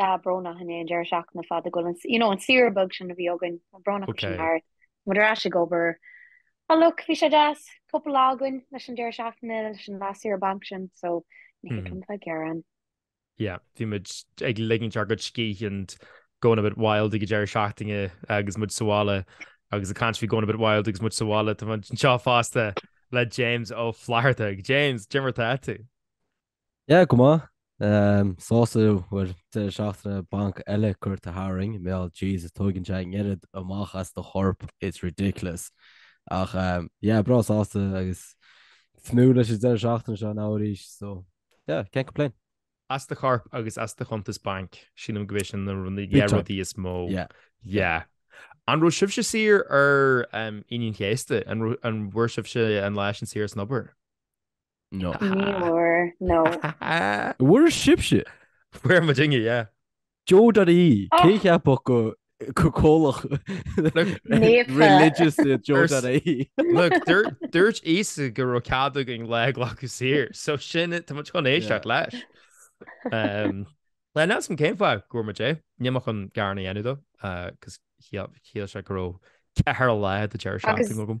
Bhuel brónach anois an deireadh seachtaine fada go bhfuil an, you know, an saoire beag sin a bhí againn, brónach go bhfuil sin thart. Muid ar ais ag obair. Ach look, bhí sé deas, cúpla lá againn leis an deireadh seachtaine, leis an last saoire banc sin, so ní mé atá ag gearán. Yeah, bhí muid ag ligint ár gcuid scíthe and going a bit wild ag an deireadh seachtaine agus muid sa bhaile agus I can't be going a bit wild agus muid sa bhaile, táthar anseo fosta le James Ó Flatharta. James, cad é mar atá tú? Yeah, go maith. Ehm, sásta bhfuil deireadh seachtaine banc eile curtha tharainn, mar gheall Jesus tógann sé an oiread amach as do chorp, it's ridiculous. Ach ehm, yeah, breá sásta agus ag tnúth leis an deireadh seachtaine seo now arís, so yeah, can't complain. As do chorp agus as do chuntas banc, sílim gurb iad sin na run- yeah, time. rudaí is mó. Yeah. Yeah. An raibh sibhse saor ar ehm, Aoine an Chéasta? An raibh, an bhfuair sibhse an lá sin saor as an obair? No. Ní bhfuair, no. An bhfuair sibhse? Fuair muidne, yeah. Joe.ie, cé cheapfadh gur comhlacht religious iad Joe.ie? Look, dúirt Íosa go raibh cead againn lá a ghlacadh saor, so sin tá muid chun éisteacht leis. Níl a fhios agam cén fáth go bhfuair muid é, ní mé ag gearán a dhéanamh dó, 'cause chiallaigh sé go raibh ceithre lá de dheireadh seachtaine agam.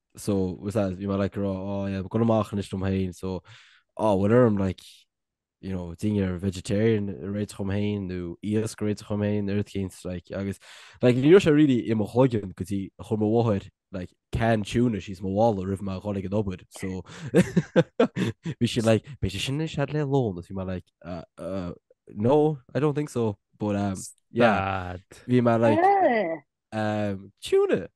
so was that you might like her oh, oh yeah gonna machen nicht um hain so oh what are I'm like you know ding you're vegetarian rate from hain nu ears great from hain earth gains like agus like you should really im hogan cause he home water like can tune she's my wall or if my colleague an obwood so we should like be sin had le alone if you might like uh uh no I don't think so but um yeah we might like um tune it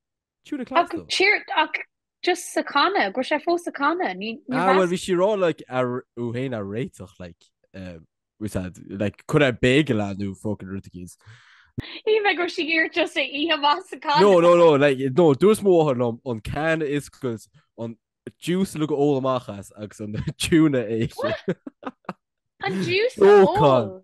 Siúd ag cleachtadh. Ach siar, ach just sa channa, go raibh sé fós sa channa, ní mheas. Ah, bhuel, bhí sé ag rá, like, raibh uaidh é a réiteach, like, um, we said, like, cur ar bagel é nó fucking rud éigin. Ní bheith gur sí iar just a ihe amach as an gcanna. No, no, no, like, no, dúirt m'athair liom an canna a oscailt, an juice uilig a ól amach as agus an tuna a ithe. An juice a ól?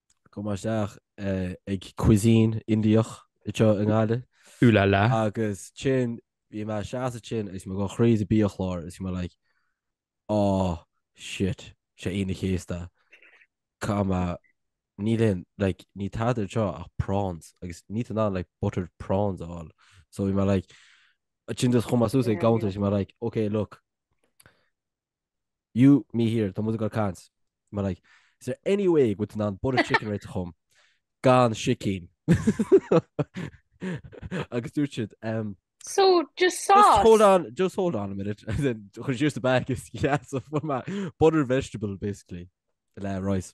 Chuaigh mé isteach ag cuisine Indiach anseo i nGaillimh. Ooh la la. Agus sin, bhí mé i mo sheasamh ansin agus bhí mé ag gabháil tríd an mbiachlár agus bhí mé like aww shit 'sé Aoine an Chéasta. Caithfidh mé, níl aon, like níl tada anseo ach prawns agus níl tú in ann like buttered prawns a fháil. So bhí mé like, ansin just chuaigh mé suas ag an gcuntar is bhí mé like ok look, you me here tá mu go cans mar like is there any way go ná bud chicken right chum gan sicín agus dúirt siad um, So just sauce. Just hold on, just hold on a minute, and then because here's the back is yeah, so for my butter vegetable basically, le rice.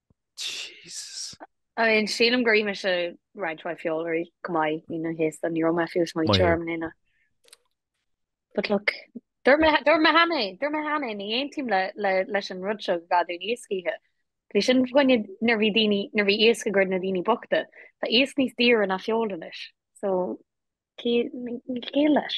Jesus. I mean sílim gur ith mise roinnt mhaith feola chomh maith Aoine an Chéasta ní raibh mé fiú ag smaoineamh Maith. orm lena But look Dúirt mé dúirt mé cheana é dúirt mé cheana é ní aontaím le le leis an rud seo gur gá dúinn iasc a ithe. Bhí sin i gcoinne nuair bhí daoine nuair bhí iasc i gcomhair na daoine bochta. Tá iasc níos daoire ná feoil anois so ní aontaím leis?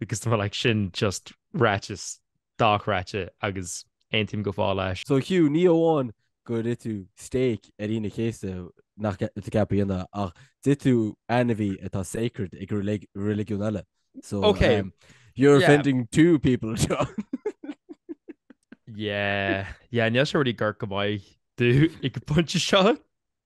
Because tá like sin just ráiteas atá tú ag rá agus aontaím go fóill leis. So Hugh, ní amháin gur ith tú steak ar Aoine an Chéasta nach bhfuil tú ceaptha a dhéanamh ach d'ith tú ainmhí atá sacred ag reiligiún eile. So okay. um, you're yeah. offending two people seo. yeah, yeah, níl sé ag éirí go ró-mhaith duit ag an bpointe seo.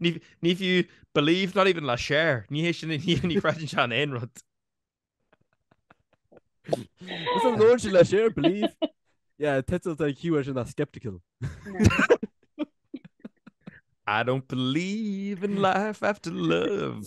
Ní ní fiú believe not even le Cher. Ní hé sin ní ní chreideann sé in aon rud. Is an lóir sin le Cher believe. Yeah, title an QA sin na skeptical. I don't believe in life after love.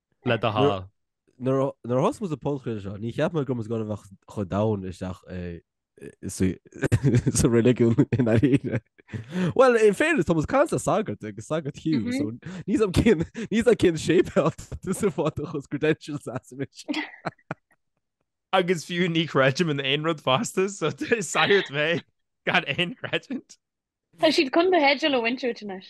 le do Nuair- hall. Nuair a- nuair a thosnaigh muid an podchraoladh seo, níor cheap mé go mbeadh muid ag bheith chomh domhain isteach i- i- i- sa- sa reiligiún i ndáiríre. Bhuel, in fairness, tá muid ag caint le sagart agus sagart Hugh, Mhm. so ní sam cén- ní sam cén séipéal is a bhfágfadh do credentials as anois. Agus fiú ní creidim in aon rud fosta, so is sagart mé gan aon credit. Tá siad chun do theideal a bhaint díot anois.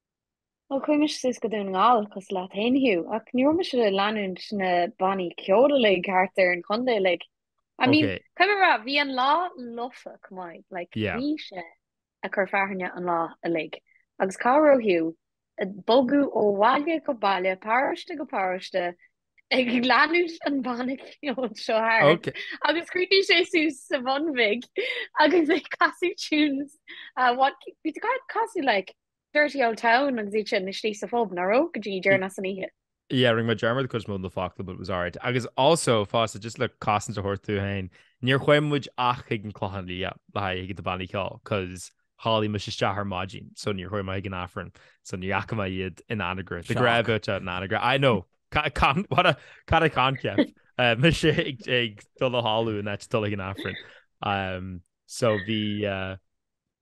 Ó chuaigh mise suas go Dún na nGall cosúil leat fhéin a Hugh ach ní raibh mise ag leanúint na bannaí ceoil uilig thart ar an chontae uilig. I mean, Okay. caithfidh mé a rá, bhí an lá lofa chomh maith, like, Yeah. bhí sé ag cur fearthainne an lá uilig. Agus cá raibh Hugh? Ag bogadh ó bhaile go baile, paróiste go paróiste, ag leanúint an banna ceoil seo thart. Okay. Agus chríochnaigh sé suas sa Bhun Bhig agus ag casadh tunes. Uh, what, bhí tú ag casadh, like, Dirty old town agus iad sin istigh sa phub, nach raibh? go dtí deireadh an oíche. Yeah, rinn muid dearmad de cuid mhór de na focla but it was alright. Agus also, fosta, just le cosaint a thabhairt domh féin, níor chuaigh muid ach chuig an Clochán Liath le haghaidh chuig na bannaí ceoil cos chodlaigh muid isteach ar maidin so níor chuaigh muid chuig an Aifreann so ní fhaca mé iad in Anagaire. Shock. Go raibh siad in Anagaire. I know! Ca- can- what a- What a concept? Eh, Mise ag ag dul a chodladh in áit dul chuig an Aifreann. Um, so bhí eh,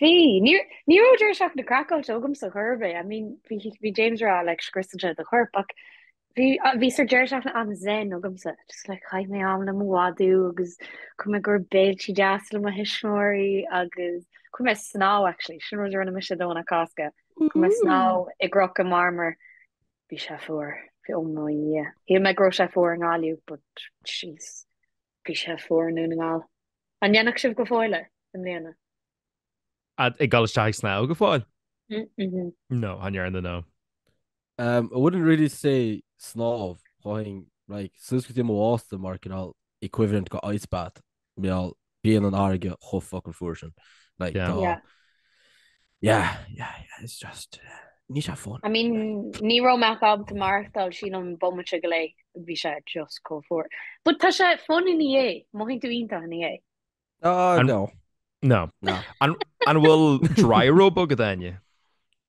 Bhí. Ní ní raibh deireadh seachtaine craiceáilte agamsa gurb é, I mean, bhí bhí James ag rá like scriosann sé do chorp ach bhí bhí sort deireadh seachtaine an zen agamsa, just like chaith mé am le mo mhadadh agus chuaigh mé go béiltí deasa le mo thuismitheoirí agus chuaigh mé ag snámh actually, sin rud a rinne mise Domhnach Cásca, chuaigh mé ag snámh i gCnoc an Mharmair, bhí sé fuar, bhí, oh my yeah, shíl mé go raibh sé fuar i nGaillimh but jeez. Bhí sé fuar i nDún na nGall. An ndearna sibh go fóill é i mbliana? Ag dul isteach ag snámh go fóill? No, an ndearna no? I wouldn't really say snámh, chuaigh mé like, suas go dtí mo bhásta mar cineál equivalent go ice bath, mar bíonn an fharraige chomh fucking fuar sin. Like, tá. Yeah. Yeah, yeah, yeah, it's just... Níl sé fun. I mean, ní raibh mé ábalta maireachtáil san ach bomaite go leith, bhí sé just chomh fuar. But tá sé fun ina dhiaidh, mothaíonn tú iontach ina dhiaidh. Oh, no. No. No. An bhfuil dry robe agat Áine?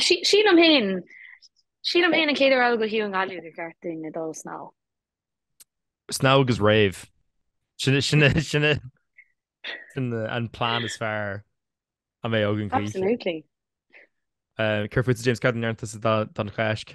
Sílim fhéin, sílim fhéin an céad uair eile go híoth an Ghaillimh gur cheart dúinne dul ag snámh. Snámh agus rave. Sin sin an plean is fearr a bheidh againn choíche. Absolutely. Céard fút James Cad an neartas don Cháisc?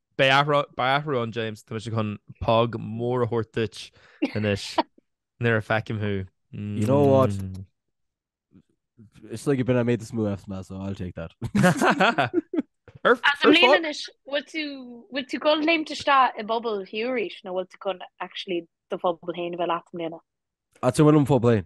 Beidh athrá, beidh athrá ann James, tá mise chun póg mór a thabhairt duit anois nuair a fheicim thú. You know what? Mm. It's like you've been I made this move after that, so I'll take that. Ar As ar am fá- léan is bhfuil tú bhfuil tú ag gabháil léimt isteach i bpuball Hugh arís nó bhfuil tú chun actually do phuball féin bheith leat i mbliana. Ach sin bhfuil do phuball féin.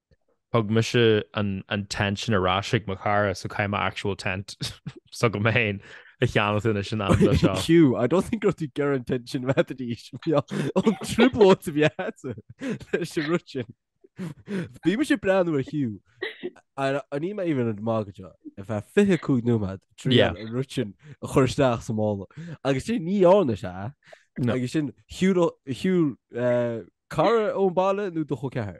Thug mise an tent sin ar ais ag mo chara, so caithfidh mé actual tent s'agam féin a cheannacht anois in am dó seo. Hugh, I don't think raibh tú ag iarraidh an tent sin mheataidís. An trioblóid a bhí agat leis an rud sin. Bhí mise ag breathnú ar Hugh, agus níl mé even ag magadh go deo, ar feadh 25 nóiméad ag triail Yeah. an rud sin a chur isteach sa mála. Agus sin ní ann is ea? No. Agus sin shiúl, shiúl, eh, cara ón baile nó do chol ceathrair?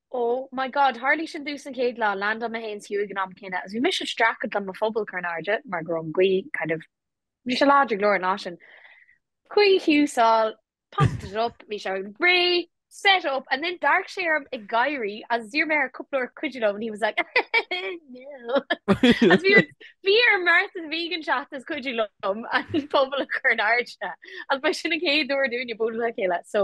Oh my God, tharla sin domsa an chéad lá, landáil mé féin is Hugh ag an am céanna agus bhí mise ag streachailt le mo phuball a chur in airde mar go raibh an gaoth kind of, bhí sé láidir go leor an lá sin. Chuaigh Hugh sall, popped it up, bhí sé ready, set up and then d'amharc sé orm ag gáirí agus d'iarr mé air cúpla uair cuidiú liom and he was like no agus bhí ar, bhí ar Martha is Megan teacht is cuidiú liom an puball a chur in airde agus ba sin an chéad uair dúinne bualadh le chéile so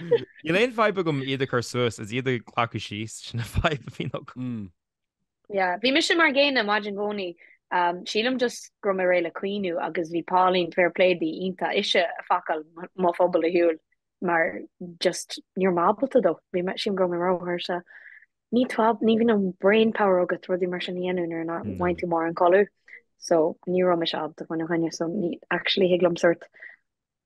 Níl aon fadhb agam iad a chur suas, is iad a ghlacadh síos, sin an fadhb a bhíonn agam. Yeah, bhí mise mar an gcéanna maidin i gcónaí. Sílim just go raibh mé réidh le caoineadh agus bhí Pauline, fair play di, iontach ise a phacáil mo phuball ar shiúl mar just ní raibh mé ábalta dó. Bhí mé, sílim go raibh mé róthuirseach. Ní táb, ní bhíonn an brain power agat rudaí mar sin a dhéanamh nuair nach No. bhfaigheann tú mórán codladh. So, ní raibh mise ábalta faoina choinne, so ní, actually thig liom sort,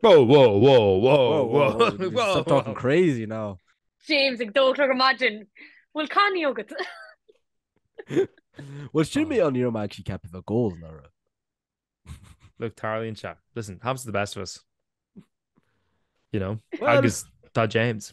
Whoa, whoa, whoa, whoa, whoa, whoa. Stop talking crazy now. James ag a dó a chlog ar maidin. Bhfuil cuimhne agat? Bhuel sin mé an ní raibh mé actually ceaptha bheith ag ól ná rud. Look, tarlaíonn sé. Listen, happens to the best of us. You know? Well, agus tá James.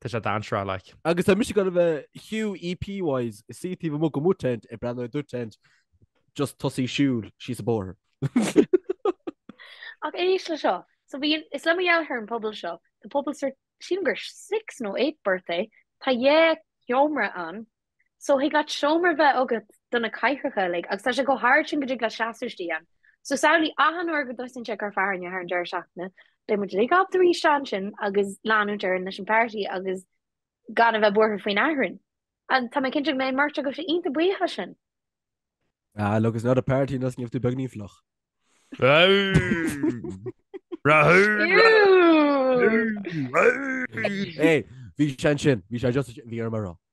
Tá sé dainséarach like. Agus tá mise ag gabháil a bheith Hugh EP wise is sea taobh amuigh de mo tent ag breathnú ar do tent just tosaigh siúl síos a' bóthar. Ach éist le seo. So bhí an, is le mo dheartháir an puball seo, the puball sir, sílim gur six nó eight berth é, tá dhá sheomra ann, so thig leat seomra bheith agat do na cathaoireacha uilig agus tá sé chomh hard sin go dtig leat seasamh istigh ann. So samhlaigh achan uair go dtosaíonn sé ag cur fearthainne thar an deireadh seachtaine, beidh muid uilig ábalta rith isteach ansin agus leanúint orainn leis an party agus gan a bheith buartha faoin fhearthainn. Agus tá mé cinnte go mbeidh beirt agaibhse iontach buíoch leis sin. Bhuel, look, it's not a party unless níl tú beagáinín fliuch. Bhí sé ansin, bhí sé just, bhí orm a rá.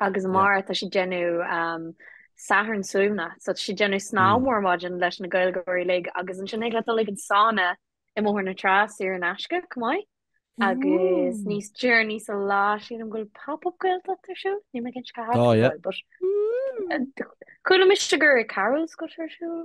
agus Yeah. amárach tá sé déanamh um, Satharn Suaimhne, so tá sé déanamh snámh Mm. mór maidin leis na Gaeilgeoirí uilig agus ansin thig leat dul ag an sána i mBóthar na Trá saor in aisce, chomh maith. Agus Ooh. níos deireanaí sa lá sin um go bhfuil pop-up Gaeltacht ar siúl, níl mé cinnte cá háit Oh, yeah. Chuala mise gur i Carroll's atá sé ar siúl.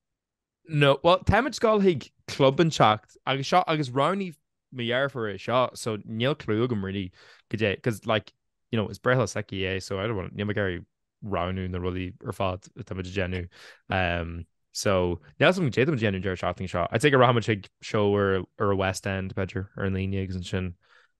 No, bhuel, táimid ag gabháil chuig club inteacht agus seo agus roghnaigh mo dheirfiúr é seo so níl clú agam really goidé cos like, you know, is breithlá s'aici é so I don't want, níl mé ag iarraidh roghnú na rudaí ar fad atá muid ag déanamh. Umm, so, níl a fhios agam goidé atá muid ag déanamh an deireadh seachtaine seo. I'd say go rachaimid chuig seó ar ar an West End b'fhéidir, ar an Aoine agus ansin.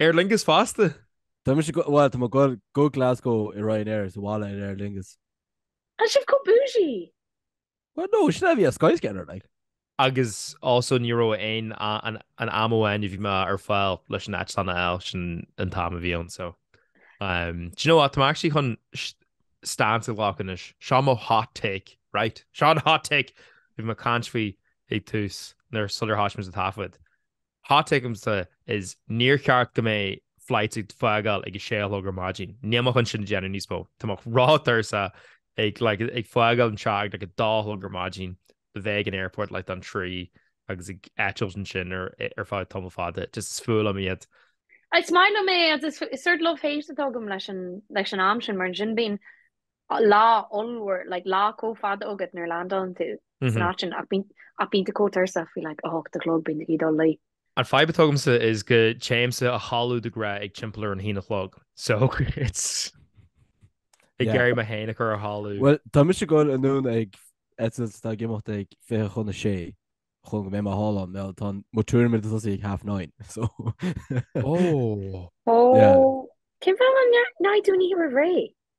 Aer Lingus fosta? Tá mise go, bhuel, tá mé ag gabháil, go Glasgow i Ryanair is abhaile in Aer Lingus. Tá sibh chomh bougie! Well no, sin é a bhí ar Skyscanner like. Agus also ní raibh aon an am amháin a bhí mé ar fáil leis an eitleán a fháil, sin an t-am a bhí ann so um do you know what, tá mé actually chun stance a ghlacadh anois, seo mo hot take right, seo an hot take, bhí mé ag caint faoi ag tús nuair sular thoisigh muid an taifead. Hot take atá agamsa is níor cheart go mbeadh flight ag fágáil ag a sé a chlog ar maidin. Níl mé chun sin a dhéanamh níos mó. Tá mé róthuirseach ag like ag fágáil an teach ag like a dá a chlog ar maidin. A bheith ag an airport like don trí agus ag eitilt ansin ar ar feadh tamall fada. Just is fuath liom iad. Is maith liom é agus is is sort love hate atá agam leis an leis an am sin mar ansin bíonn lá ollmhór like lá chomh fada agat nuair landálann tú san áit sin ach bíonn ach bíonn tú chomh tuirseach faoi like a hocht a chlog bíonn tú ag dul a luí. An fadhb atá agamsa is go dtéimse a chodladh de ghnáth ag timpeall ar a haon a chlog so it's ag iarraidh mé fhéin a chur a chodladh. Bhuel tá mise ag gabháil anonn ar eitilt atá ag imeacht ag fiche chun a sé chun go mbeidh mé thall ann bhuel tá mo tuairimid ag tosú ag half nine so oh oh yeah. Cén fáth nach ndearna tú an oíche roimh ré?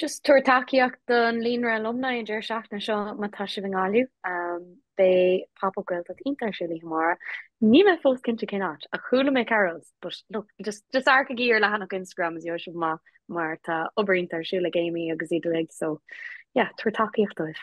Just tabhair tacaíocht don Líonra Alumni an deireadh seachtaine seo má tá sibh i nGaillimh. Beidh Pop Up Gaeltacht iontach ar siúl oíche amárach. Níl mé fós cinnte cén áit ach chuala mé Carroll's but look just just amharcaigí ar leathanach Instagram is gheobhaidh sibh amach mar tá obair iontach ar siúl ag Amy agus iad uilig so yeah tabhair tacaíocht dóibh.